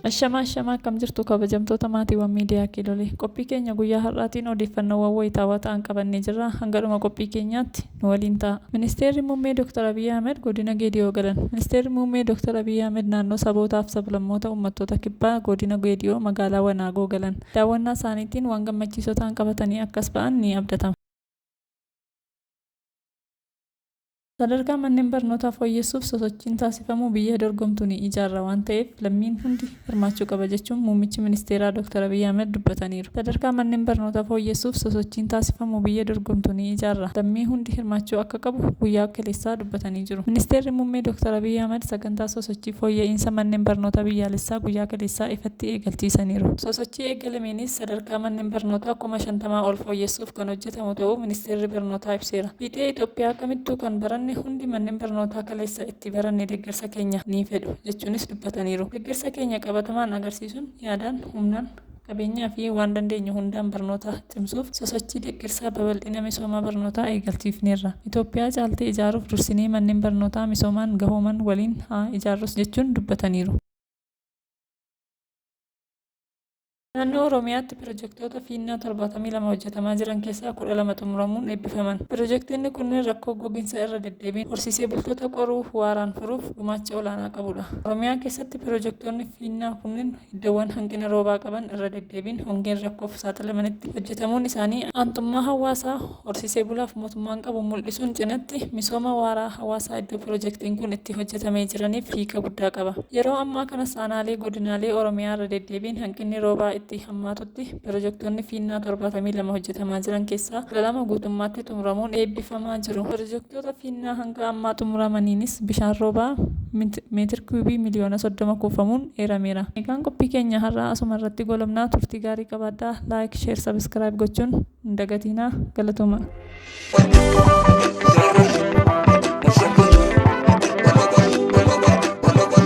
Ashamaa ashamaa akkam jirtu kabajamtoota maatiiwwan miidiyaa kiilolee qophii keenya guyyaa har'aatiin odeeffannoowwan wayitaawaa ta'an qabannee jirra hanga dhuma qophii keenyaatti nu waliin ta'a. Ministeerri Muummee Dr. Abiyyi Ahmed godina Geediyoo galan. Ministeerri Muummee Dr. Abiyyi Ahmed naannoo sabootaaf sablammoota uummattoota kibbaa godina Geediyoo magaalaa Wanaagoo galan. Daawwannaa isaaniitiin waan gammachiisoo ta'an qabatanii akkas ba'an ni abdatama. Sadarkaa manneen barnootaa fooyyessuuf sosochiin taasifamu biyya dorgomtu ni ijaarra waan ta'eef lammiin hundi hirmaachuu qaba jechuun Muummichi Ministeeraa Dooktar Abiyyi Ahimad dubbataniiru. Sadarkaa manneen barnootaa fooyyessuuf sosochiin taasifamu biyya dorgomtu ni ijaarra, lammii hundi hirmaachuu akka qabu guyyaa kaleessaa dubbatanii jiru. Ministeerri Muummee Dooktar Abiyyi Ahimad sagantaa sosochii fooyya'iinsa manneen barnootaa biyyaalessaa guyyaa kaleessaa ifatti eegalchiisaniiru. Sosochii eegalameenis sadarkaa manneen barnootaa kuma 50 ol fooyyessuuf kan hojjetamu ta'uu ibsaniiru. taasisamu ta'uu Ministeerri Barnootaa ibseera. Fiixee Itoophiyaa kamittuu kan baranne hundi manneen barnootaa kaleessa itti baranne deeggarsa keenya ni fedhu jechuunis dubbataniiru. Deeggarsa keenya qabatamaan agarsiisuun yaadaan, humnaan, qabeenyaa fi waan dandeenyu hundaan barnoota cimsuuf sosochii deeggarsaa babal'ina misooma barnootaa eegalchiifneerra. Itoophiyaa caaltee ijaaruuf dursinee manneen barnootaa misoomaan gahooman waliin haa ijaarrus jechuun dubbataniiru. Naannoo Oromiyaatti pirojektoota fiinnaa 72 hojjetamaa jiran keessaa 12 xumuramuun eebbifaman. Pirojektoonni kunneen rakkoo goginsa irra deddeebiin horsiisee bultoota qoruu fi waaraan furuuf gumaacha olaanaa qabudha. Oromiyaa keessatti pirojektoonni fiinnaa kunneen iddoowwan hanqina roobaa qaban irra deddeebiin hongeen rakkoof saaxilamanitti hojjetamuun isaanii aantummaa hawaasaa, Horsiisee bulaaf mootummaan qabu mul'isuun cinatti misooma waaraa hawaasaa iddoo pirojektiin kun itti hojjetamee jiraniif hiika guddaa qaba. Yeroo ammaa kanas aanaalee godinaalee Oromiyaa irra deddeebiin hanqinni roobaa itti hammaatutti pirojektoonni fiinnaa 72 hojjetamaa jiran keessaa 12 guutummaatti xumuramuun eebbifamaa jiru. Pirojektoota fiinnaa hanga ammaa xumuramaniinis bishaan roobaa meetir kiyuubii miliyoona 30 kuufamuun eerameera. Egaan qophii keenya har'aa asuma irratti goolabna. Turtii gaarii qabaadhaa. Like, Share, Subscribe gochuun. hin dagatiinaa galatomaa.